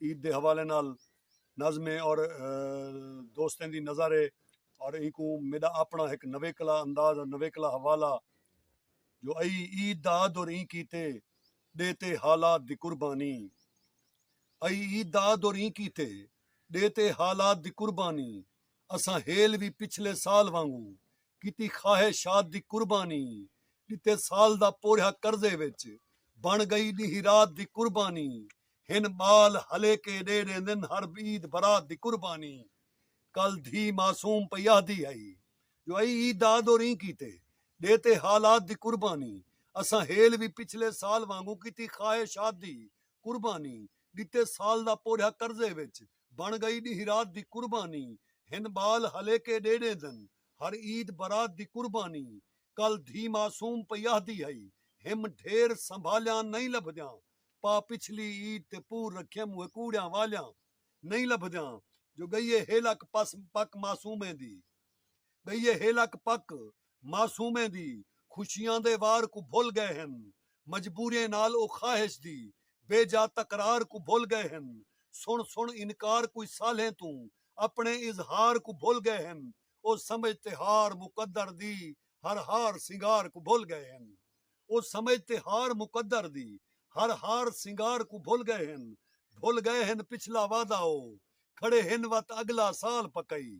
عید دے حوالے نال ناظمیں اور دوستیں دی نظر ہے اور اینکوں میڈا اپنا ہک نویکلا انداز اور نویکلا حوالہ جو ای عید دا آد اور این کیتے ڈیتے حالات دی قربانی ای عید دا آد اور این کیتے ڈیتے حالات دی قربانی اساں ہیل وی پچھلے سال وانگو کیتی خواہشات دی قربانی ڈیتے سال دا پوریا قرضے وچ بن گئی ڈیہی رات دی قربانی ہن ٻال ہلیکے ݙے ݙیندن ہر عید برات دی قربانی کل دھی معصوم پئی آہدی ہئی جو ائی عید دا آدو ریں کیتے ݙے تے حالات دی قربانی اساں ہیل وی پچھلے سال وانگوں کیتی خواہشات دی قربانی ݙتے سال دا پورھیا قرضے وچ بݨ ڳئی ݙینہہ رات دی قربانی ہن ٻال ہلیکے ݙے ݙیندن ہر عید برات دی قربانی کل دھی معصوم پئی آہدی ہئی ہم ڈھیر سنبھالیاں نئیں لبھدیاں پا پچھلی عید تے پور رکھیاں موہے کوڑیاں والیاں نئیں لبھدیاں جو ڳئیے ہیلک پس پک معصومیں دی ڳئیے ہیلک پک معصومیں دی خوشیاں دے وار کوں بھل ڳئے ہن مجبوریں نال او خواہش دی بے جا تکرار کوں بھل ڳئے ہن سݨ سݨ انکار کوئی سالھیں توں اپݨے اظہار کوں بھل ڳئے ہن او سمجھ تے ہار مقدر دی ہر ہار سنگار کوں بھل ڳئے ہن۔ او سمجھ تے ہار مقدر دی ہر ہار سنگار کوں بھل گئے ہن بھل گئے ہن پچھلا وعدہ او کھڑے ہن وت اگلا سال پکئی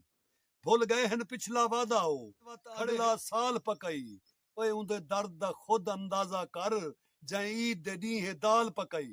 بھل گئے ہن پچھلا وعدہ او وت اگلا سال پکئی اوئے اوندے درد دا خود اندازہ کر جئیں عید دے ڈینہہ دال پکئی۔